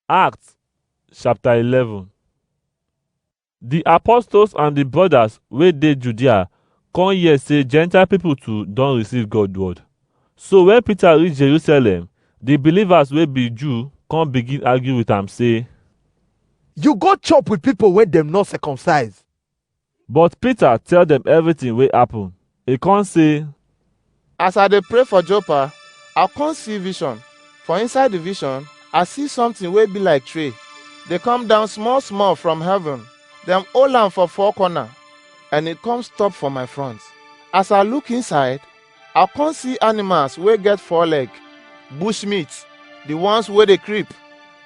Acts chapter 11 Di apostles and di brothers wey dey Judea come hear say Gentile people too don receive God word. So when Peter reach Jerusalem, di believers wey be Jew come begin argue with am say, you go chop with people wey dem no circumcise But Peter tell dem everything wey happen. E come say, As I dey pray for Joppa, I come see vision. For inside the vision, I see something wey be like tree. They come down small small from heaven. Dem hold am for four corner and e come stop for my front. As I look inside, I come see animals wey get four leg, bush meat, the ones wey dey creep,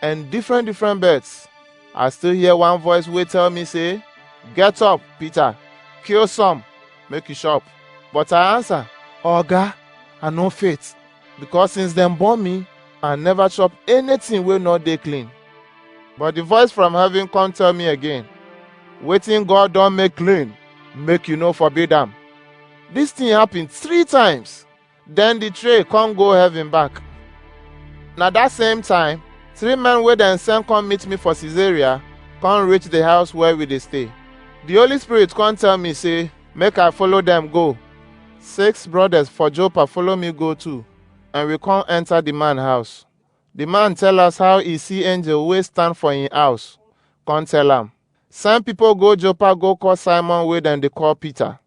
and different different birds. I still hear one voice wey tell me say, "Get up, Peter, kill some, make you chop." But I answer, "Oga, I no fit, because since dem born me, I never chop anything wey no dey clean." But the voice from heaven come tell me again, "Wetin God don make clean, make you no forbid am." This thing happen three times. Then the tray come go heaven back. Na that same time, three men wey dem send come meet me for Caesarea come reach the house where we dey stay. The Holy Spirit come tell me say make I follow them go. Six brothers for Joppa follow me go too, and we come enter the man house. The man tell us how he see angel wey stand for him house. Come tell am, send people go Joppa go call Simon wey dem dey call Peter.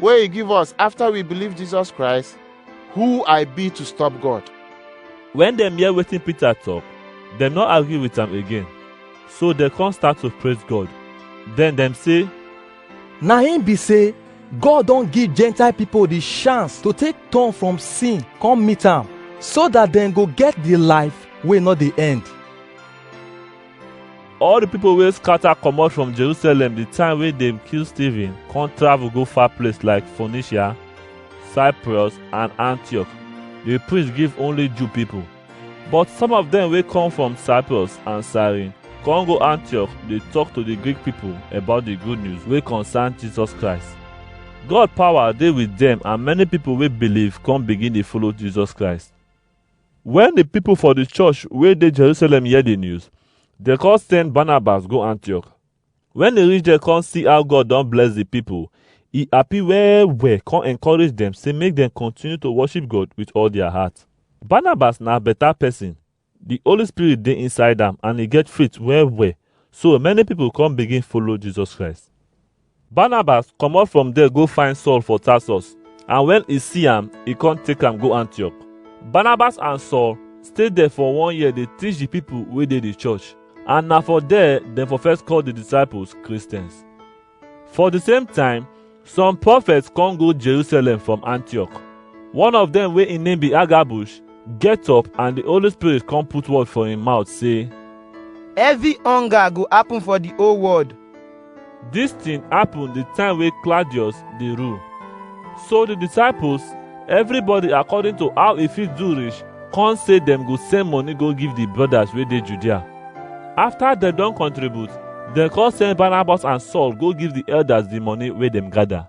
wey he give us after we believe Jesus Christ, who I be to stop God. When dem hear wetin Peter talk, dem no agree with am again. So dem come start to praise God. Then dem say, Na him be say God don give Gentile people the chance to take turn from sin come meet am so that dem go get the life wey no dey end. All the people wey scatter comot from Jerusalem the time wey dem kill Stephen come travel go far place like Phoenicia, Cyprus and Antioch. They preach give only Jew people. But some of them wey come from Cyprus and Cyrene come go Antioch dey talk to the Greek people about the good news wey concern Jesus Christ. God power dey with them and many people wey believe come begin dey follow Jesus Christ. Wen di pipo for di church wey dey Jerusalem hear di news, dem come send Barnabas go Antioch. Wen e reach there come see how God don bless di pipo, e happy well-well come encourage dem say make dem continue to worship God with all dia heart. Barnabas na beta pesin, di Holy Spirit dey inside am and e get faith well-well, so many pipo come begin follow Jesus Christ. Barnabas comot from there go find Saul for Tarsus, and when e see am, e come take am go Antioch. Barnabas and Saul stay there for one year dey teach the people wey dey the church, and na for there dem for first call the disciples Christians. For the same time, some prophets come go Jerusalem from Antioch. One of them wey im name be Agabush get up and the Holy Spirit come put word for im mouth say, Heavy hunger go happen for the whole world Dis thing happen the time wey Claudius dey rule. So the disciples, everybody according to how e fit do reach, come say dem go send money go give the brothers wey dey Judea. After dem don contribute, dem come send Barnabas and Saul go give the elders the money wey dem gather.